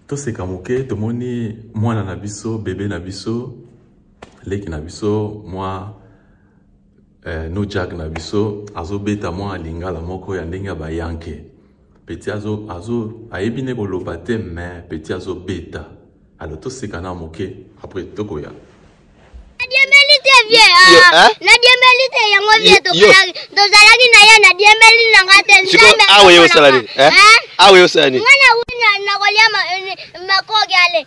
toseka moke tomoni mwana na biso bebe na biso leki na biso mwa eh, no jack na biso azobeta mwa lingala moko ya ndenge ya bayanke peti azo, azo ayebi nde koloba te me peti azobeta alo toseka na moke apres tokoya nadiembeli te yango vie tokalaki tozalaki na ye nadiembeli na nga te nzambe awa ye osala nini awa ye osala nini nga na wina nakolia makoki ale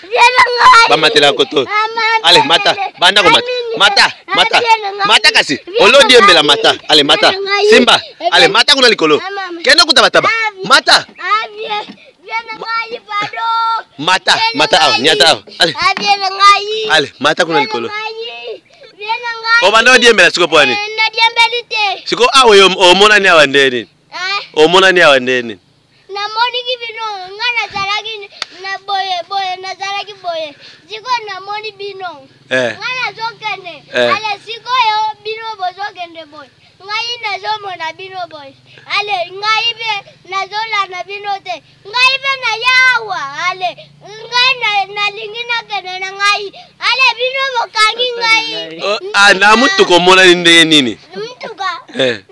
bamatelaka koto ale mata banda komata mata mata mata kasi olodi embela mata ale mata simba ale mata kuna likolo kende kuta bataba mata mata mata awa nyata awa ale ale mata kuna likolo obanda odiembela siko mpo ani siko awa omonani awa nde nini omonani awa nde nini namoniki bino nga nazalaki na boye boye nazalaki boye sikoyo namoni bino eh. nga nazokende eh. ale sikoyo bino bozokende boye ngai nazomona bino boye ale ngai mpe nazolanda bino te ngai mpe nayawa ale ngai nalingi nakende na ngai ale bino bokangi ngai oh, ah, na motuka omonani ndenge nini motuka eh.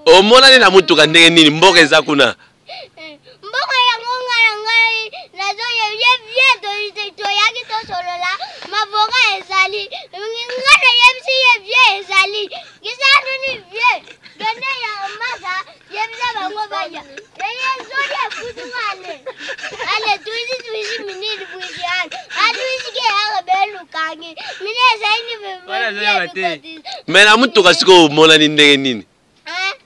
omonani na motuka ndenge nini mboka eza kuna mboka yango nga na ngai nazoyebye bie toyaki tosolola mavoka ezali nga nayebisi ye bie ezali kisanuni bie done ya masa yebisa bango baya me na motuka sikoyo omonani ndenge nini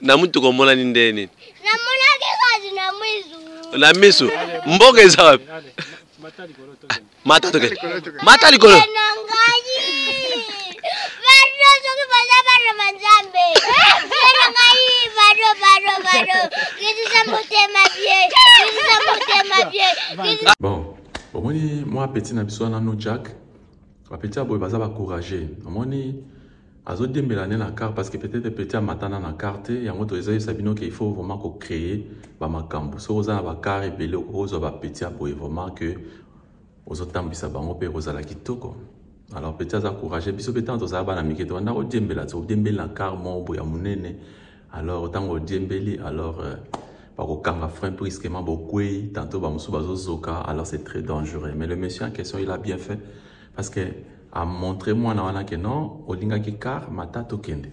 na motuka omonani ndenge nini na miso mboka eza wapi mata toke mata likolo bon omoni mwa apeti na biso wana no jack bapeti ya boye baza bacourage omoni azo diembela ne na car parce que peut-être petit amatana na car te yango to eza yesa bino qu'il faut vraiment ko créer ba makambu soki oza na ba car ebele okozwa ba petit ya boye vraiment que ozotambwisa bango mpe ekozala kitoko alors petit aza courage biso mpe ntango tozala bana mike tobanda kodiembela todiembeli na car moko boye ya monene alors ntango odiembeli alors euh, bakokanga frein brusquement bokwei tantôt bamosusu bazozoka alors c'est très dangereux mais le monsieur en question il a bien fait parce que amontre mwana wana ke non olingaki car mata tokende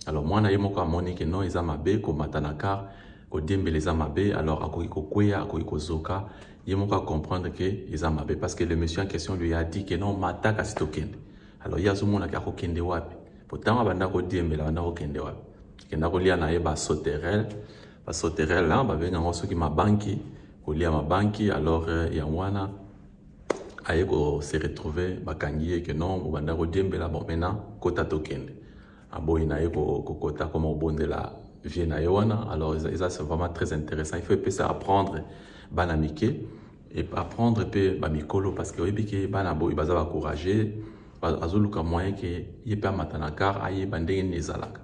alors mwana ye moko amoni ke non eza mabe komata na car kodiembela eza mabe alors akoki kokweya akoki kozoka ye moko acomprendre ke eza mabe parce que le monsieur en question lui a dit ke non mata kasi tokende alors ye azomona ke akokende wapi po ntango abanda kodiembela abanda kokende wapi akenda kolia na ye basoterel basoterel hein, babenga yango soki mabanki kolia mabanki alors euh, yango wana aye kose retrouve bakangi ye ke non obanda kodiembela bon maintenant kota tokende aboyi na ye kokota koma obondela vie na ye wana alors eza vraiment très intéressant il faut epesa apprendre bana mike et apprendre pe ba mikolo parce que oyebi ke bana boye baza ba courageux azoluka moyen ke ye pe amata na car ayeba ndenge nini ezalaka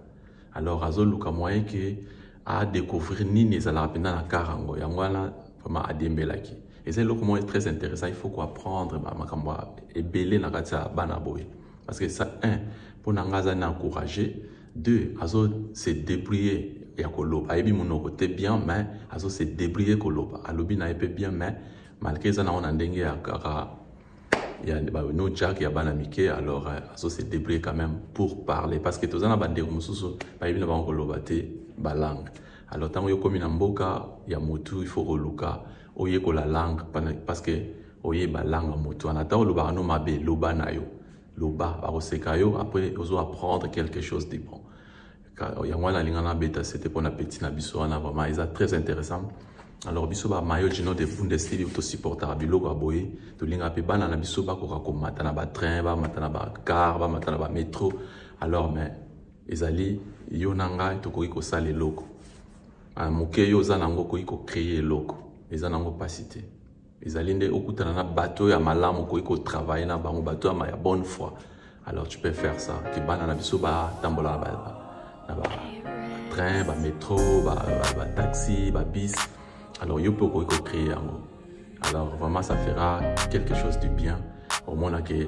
alors azoluka moyen ke a découvrir nini ezalaka mpenza na car yango yango wana vraiment adiembelaki eza eloko moko très intéressant il faut ko apprendre makambo ebele na kati ya bana boye parce que ça un mpo na ngai aza na encourage deux azo se débrouiller ya koloba ayebi monoko te bien mais azo se débrouiller koloba alobi na ye mpe bien mais malgré eza nango na ndenge ya kaka ya no jack ya bana mike alors euh, azo se débrouiller quand même pour parler parce que toza na bandeko mosusu bayebi na bango koloba te balangue alors ntango yo okomi na mboka ya motu il faut koluka oyekola langue parce que oyeba langue ya motu wana ata olobaka no mabe loba na yo loba bakoseka yo après ozo apprendre quelque chose de bon yango wana alinga na beta sete mpo na petit na biso wana vraiment eza très intéressant alors biso ba mayo gino de bundesliga tosupportaka biloko ya boye tolingaka mpe bana na biso bakoka komata na batrain bamata na bacar bamata na bametro alors mais ezali yo na ngai tokoki kosala eloko ah, moke yo oza na yango okoki kocreye eloko eza na yango mpasi te ezali nde okutana na bato ya malamu okoki kotravaille na bango bato ya ya bonne foi alors tu peux faire ça ke bana na biso batambola na batrain bametro bataxi babis alors yo mpe okoki kocree yango alors vraiment ça fera quelque chose du bien omona ke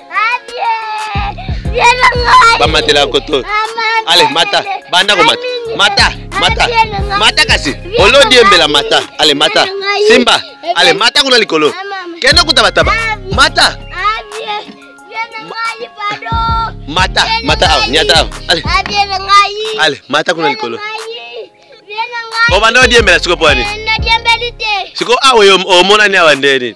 bamatela koto ale mata banda komata mata mata mata kasi olodi embela mata ale mata simba ale mata kuna likolo kende kuta bataba mata mata mata awa nyata awa ale ale mata kuna likolo obanda odiembela siko mpo ani siko awa omonani awa nde nini